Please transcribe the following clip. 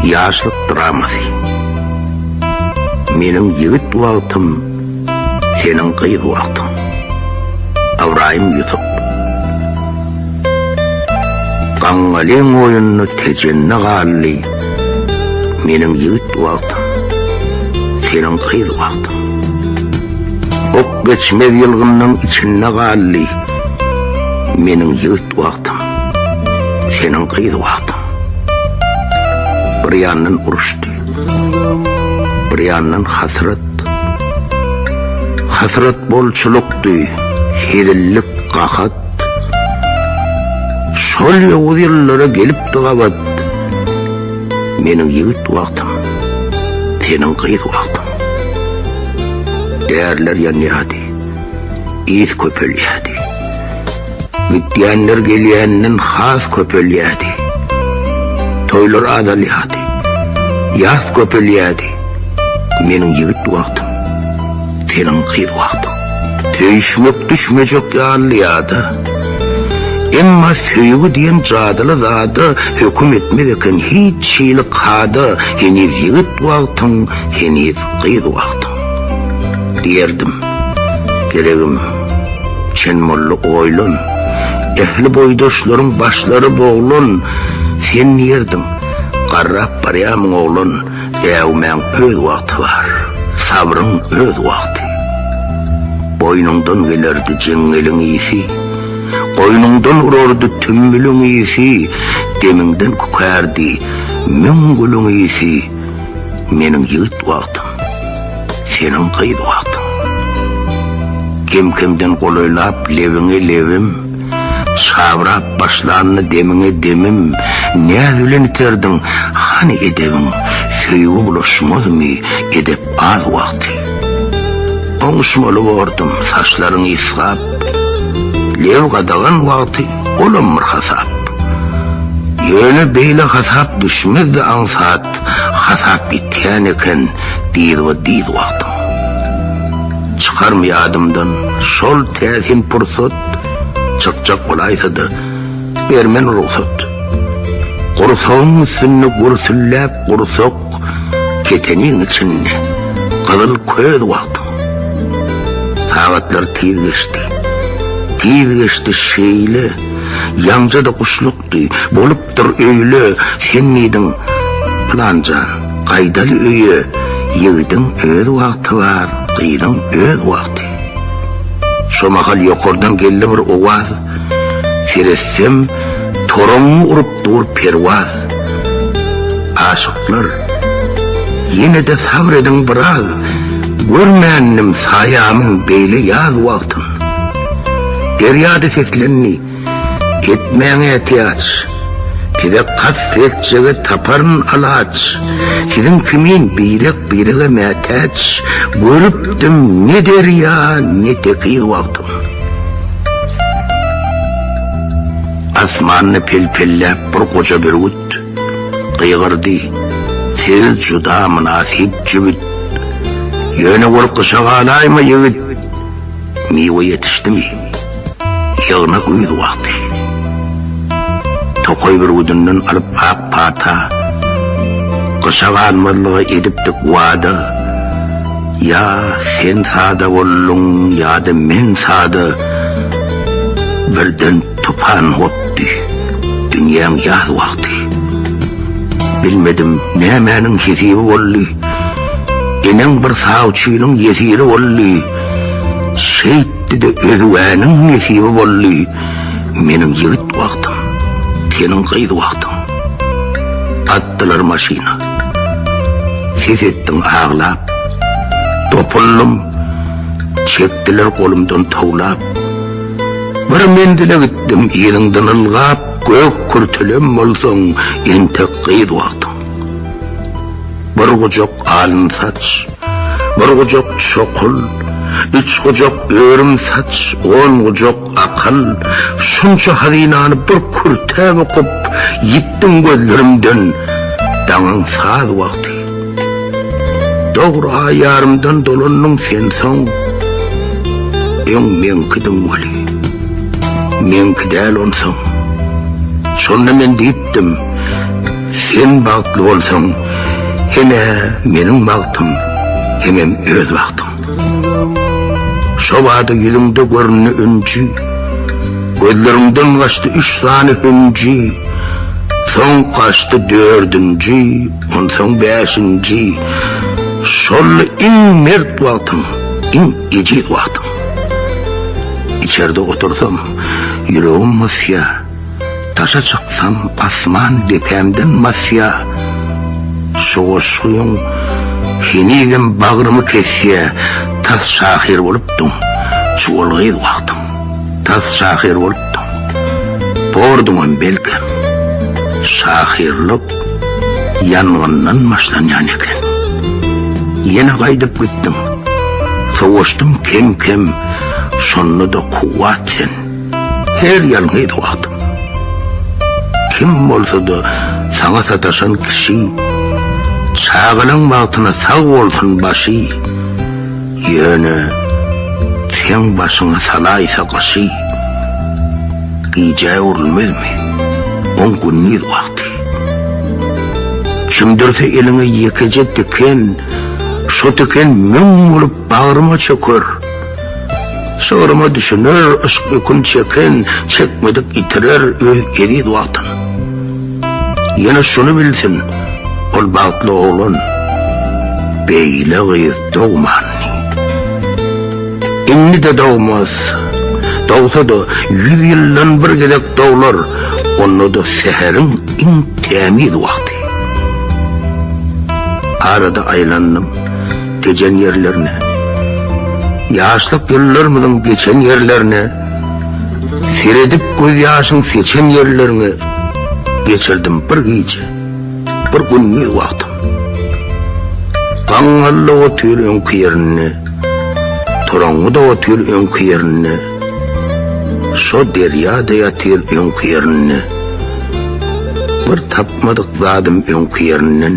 Ýaşlyk dramasy. Meniň ýigit wagtym, seniň gyz wagtyň. Ybraýym Ýusup. Gaňňalyň oýunda tejende galdy, meniň ýigit wagtym, seniň gyz wagtyň. Ok geçmez ýylgynnyň içinde galdy, meniň ýigit wagtyň, seniň gyz wagtyň. Bir ýandan uruşdy, bir ýandan hasrat. Hasrat bolçulykdy, hezillik gahat. Şol ýowuz ýyllara gelipdi gabat. Meniň ýigit wagtyň, seniň gyz wagtyň. Därler ýanýardy, ýz köpelýärdi. Gidýänler gelýänden has köpelýärdi. Toýlar azalýardy. Ýas köpelýärdi. Meniň ýigit wagtym, seniň gyz wagtyň. Söýüşmek düşmejek ýaly ýada. Emma söýgi diýen jadyly zada höküm etmez eken hiç hili kada, heniz ýigit wagtyň, heniz gyz wagtyň. Diýerdim, Geregim, Çen molla oýlan, Ähli boýdaşlaryň başlary boglan, Sen diýerdiň, Garrap barýamyň oglan, Äwmäň öz wagty bar, Sabryň öz wagty. Boýnuňdan gelerdi jeňňeliň ysy, Goýnuňdan urardy tümmüliň ysy, Demiňden kükärdi müň gülüň ysy. Meniň ýigit wagtym, seniň gyz wagtyň. Kem-kemden golaýlap lebiňe lebim, Çabrap başlandy demiňe demim, Näz bilen iterdiň, hany edebiň, Söýgi bulaşmazmy edep az wagty. Oňuşmaly bordum, saçlaryň ysgap, Leb gadagan wagty. Olam bir hasap. Ýöne beýle hasap düşmezdi aňsat hasap ýitýän eken diýz we diýz wagtyň. Çykarmy ýadymdan şol täsin pursat çykjak bolaýsady bermen rugsat. Gursagyň üstünde gürsülläp gursak Keteniň içinde gyzyl köz wagtyň. Sagatlar tiz geçdi. Tiz geçdi şeýle, Ýaňja-da guşlukdy, Bolupdyr öýle, sen diýdiň, Pylanjan, gaýdaly öýe, Ýigidiň öz wagty bar, Gyzyň öz wagty. Şo mahal ýokardan geldi bir owaz, Seretsem, toragyňy urup, Dur perwaz, aşyklar, Ýene-de sabr ediň biraz, Görmändim saýamyň beýle ýaz wagtyn. Derýa-da seslendi, Etmäň ätiýaç, Size kast etjege taparyn alaç. Siziň kimin birek-birege mätäç, Görüpdim ne derýa, ne tekiz wagtyn. Asmanda pelpelläp bir goja bürgüt, Gygyrdy, Siz juda mynasyp jübüt. Ýöne ol gyşa galaýma, ýigit, Miwe ýetişdimi, ýygna güýz wagty. Tokaý bürgüdinden alyp ak pata, Gyşa galmazlyga edipdik wada. Ýa sen sada bolduň, ýa-da men sada, Birden tupan gopdy dünýäň ýaz wagty. Bilmedim, nämäniň hesibi boldy, Eneň bir sawçynyň ýesiri boldy. Şeýtdi-de özgäniň nesibi boldy, Meniň ýigit wagtym, seniň gyz wagtyň. Atdylar maşyna. Ses etdim aglap, dopuldym, Çekdiler golumdan towlap. Bir menzile gitdim yzyňdan ylgap, Gök kürtelem bolsaň, entek gyz wagtyň. Bir gujak alyn saç, bir gujak çokul, Üç gujak örüm saç, on gujak Akyl, şunça hazynany bir kürtäp okyp, ýitdim gözlerimden, daňyň saz wagty. Dogry aý ýarymdan dolandyň sen soň, öň meňkidiň weli, meňki däl onsoň. Şonda men diýipdim, sen bagtly bolsaň, hem-ä meniň bagtym, hemem öz bagtyň. Şo bada ýüzüňde göründi ünji, Gözleriňden gaçdy üç sany hünji, Soň gaçdy dördünji, onsoň bäşinji, Şol-la iň mert wagtyň, iň ejiz wagtyň. Içerde otursam, ýüregim mysýa. Daşa çyksam asman depämden basýa Şu goşgyň henizem bagrymy kesýä Tas şahyr bolupdyň çuwal gyz wagtyň Tas şahyr bolupdyň borduňam belkem Şahyrlyk ýangyndan başlanýan eken Ýene gaýdyp gitdiň Sowaşdym kem-kem Şonda-da kuwwat sen. Her ýalňyz wagtyň. Kim bolsa-da saňa sataşan kişi, Çagalygyň bagtyna sag bolsun başy, Ýöne seň başyňa salaýsa gyşy, Gijä öwrülmezmi oň gündiz wagty. Çümdürse eliňe ýekeje tiken, Şo tiken müň bolup Bagryma çöker, şygryma düşüner, Yşk ýükün çeken, çekmedik ýitirer Öz eziz Watan. Ýene şuny bilsin, ol bagtly oglan, Beýle gyz dogmandy. Indi-de dogmaz, dogsa-da, ýüz ýyldan bir gezek doglar, Onda-da säheriň iň tämiz wagty. Arada aýlandym. Gejen ýerlerine, ýaşlyk ýyllarymyzyň geçen ýerlerine, seredip gözýaşyň seçen ýerleriňe geçirdim bir gije, bir gündiz wagtym. Gaňňalda otyr öňki ýerinde, toraňňyda otyr öňki ýerinde, şo derýa-da ýatyr öňki ýerinde, bir tapmadyk zadym öňki ýerinden.